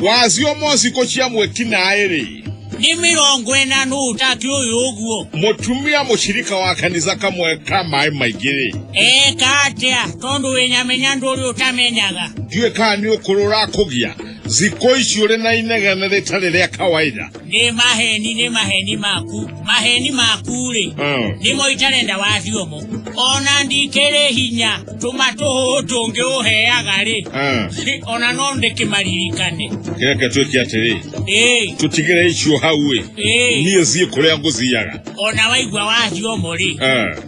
wazi omosi kochia mweki naye rĩ nĩ mĩrongo ĩna nũ ũtatu ũyũ ũguo mũtumia mũshirika wa kanitha kamwe ka maĩ maingĩ rĩ eka atĩa tondũ wĩnyamenya ndũ ũrĩa ũtamenyaga ndiũĩ kana nĩ ũkũrũ ũrakũgia thikũ ici ũrĩ na inegene rĩtarĩ rĩa kawaida nĩ maheni nĩ maheni maku maheni maku-rĩ nĩmo itarenda wacio mo ona ndikĩrĩ hinya tũma tũhũhũ tũngĩ ũheaga-rĩ ona no ndĩkĩmaririkane reke twĩke atĩrĩ ĩĩ tũtigĩre icio hau-ĩ ĩĩ niĩ thiĩ kũrĩa ngũthiaga ona waigua wacio mo-rĩ Eh.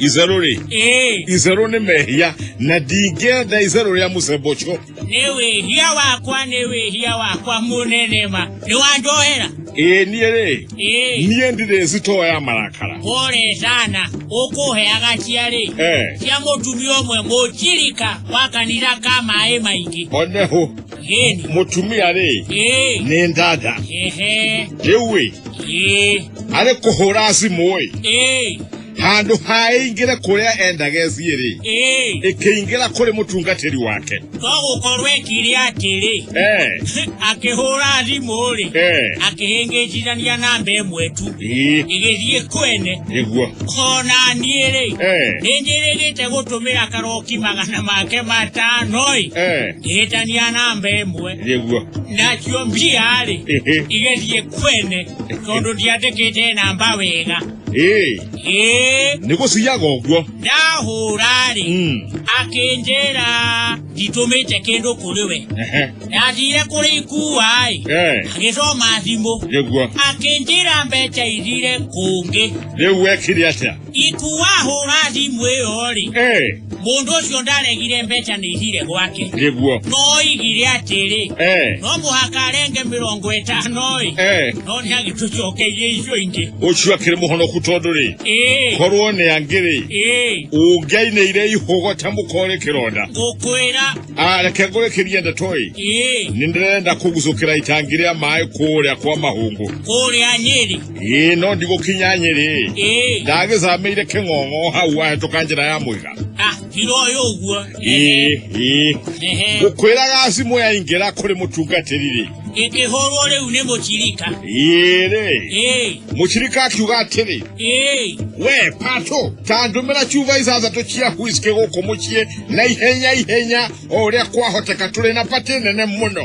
itherũ rĩ ĩĩ itherũ nĩ mehia na ndingĩenda itherũ rĩa mũcemba ũcio nĩ wĩhia wakwa nĩ wĩhia wakwa mũnene ma nĩ wanjohera ĩĩ niĩ rĩ ĩĩ niĩ ndirĩ citoo ya marakara pole sana ũkũheaga ciarĩ Eh. cia mũtumia ũmwe mũcirika wa kanitha ka maĩ maingĩ one hũ gĩni mũtumia rĩ ĩĩ nĩ ndanda ehe rĩu ĩ ĩĩ arĩ kũhũra cimũ ĩ ĩĩ handå haä ingä re kå rä a endageciä rä ĩĩ ä kä ingä ra kå rä må tungatä ri wake to gũkorwo ekire atĩrĩ Eh, akĩhũra thimũ-rĩ eh, akĩhĩngĩcithania namba ĩmwe tu ĩ, ĩgĩthiĩ kwene nĩguo ona niĩ-rĩ Eh, nĩ njĩrĩgĩte gũtũmĩra karoki magana make matano-ĩ eh, ngĩhĩtania namba ĩmwe nĩguo nacio mbia-rĩ Ĩhĩ. igĩthiĩ kwene tondũ ndiandĩkĩte namba wega ĩĩ ĩĩ nĩ gũciyaga ũguo ndahũra-rĩ Mm. akĩnjĩra nditũmĩte kĩndũ kũrĩ we Ehe. ndathire kũrĩ ikua-ĩ Eh, agĩcoma thimũ nĩguo akĩnjĩra mbeca ithire kũngĩ rĩu wekire atĩa ikua hũra thimũ ĩyo-rĩ Eh. Mũndũ ũcio ndaregire mbeca nĩ ithire gwake. Nĩguo. No oigire atĩrĩ. Eh. No mũhaka arenge mĩrongo ĩtano ĩ. Eh. No nĩ agĩtũcokeirie icio ingĩ. Ũcio akĩrĩ mũhonoku tondũ rĩ. Ĩĩ. Korwo nĩ angĩrĩ. Ĩĩ. Ũngĩainĩire ihũgũ ta mũkore kĩronda. Ngũkwĩra. Ah, reke ngũrĩkĩrie ndeto ĩ. Ĩĩ. Nĩ ndĩrenda kũgucũkĩra itangi rĩa maĩ kũrĩa kwa mahũngũ. Kũrĩa Nyeri. ĩĩ no ndigũkinya nyĩrĩ ĩĩ ndagĩcamĩire kĩng'ong'o hau wahĩtũka njĩra ya mũiga ah tiro ũyũ ũguo ĩĩ ĩĩ ehe ngũkwĩraga cimũ yaingĩra kũrĩ mũtungatĩri-rĩ ĩkĩhũrwo rĩu nĩ mũcirika ĩĩ-rĩ ĩĩ mũcirika akiuga atĩrĩ ĩĩ we patũ ta ndũmĩra cuba ithathatũ cia huiskĩ gũkũ mũciĩ na ihenya ihenya o ũrĩa kwahoteka tũrĩ na patĩ nene mũno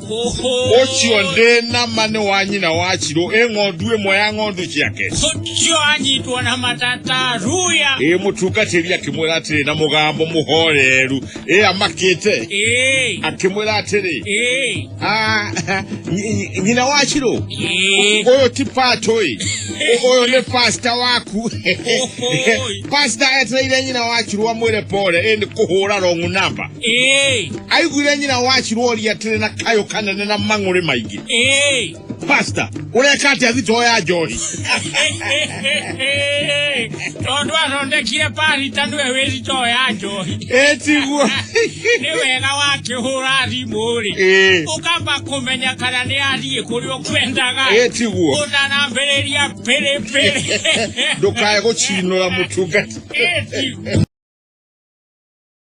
ũcio ndĩ na ma nĩ wa nyina wa cirũ ĩ ng'ondu ĩmwe ya ng'ondu ciake ũcio anyitwo na matata ruya ĩ mũtungatĩri akĩmwĩra atĩrĩ na mũgambo mũhoreru ĩ amakĩte ĩĩ akĩmwĩra atĩrĩ ĩĩ "Ah, nyi- nyi- nyina wa cirũ ĩĩ ũyũ ti patũĩ ũyũ nĩ pasta waku Ohoi. pasta etereire nyina wa cirũ amwĩre pore ĩ nĩ kũhũra rong'u namba Ĩĩ, aiguire nyina wa ciruoria atĩrĩ na kayũ kanene na mang'ũrĩ maingĩ ĩĩ. pasta ũreka atĩa thitoo ya njohi tondũ athondekire parita nĩwe wĩrito ya njohi ĩtiguo nĩ wega wakĩhũra thimũ-rĩ Ĩĩ. ũkamba kũmenya kana nĩ athiĩ kũrĩa ũkwendaga ĩtiguo ũtanambĩrĩria pĩrĩpĩrĩ ndũkae gũcinũra mũtungati Ĩti.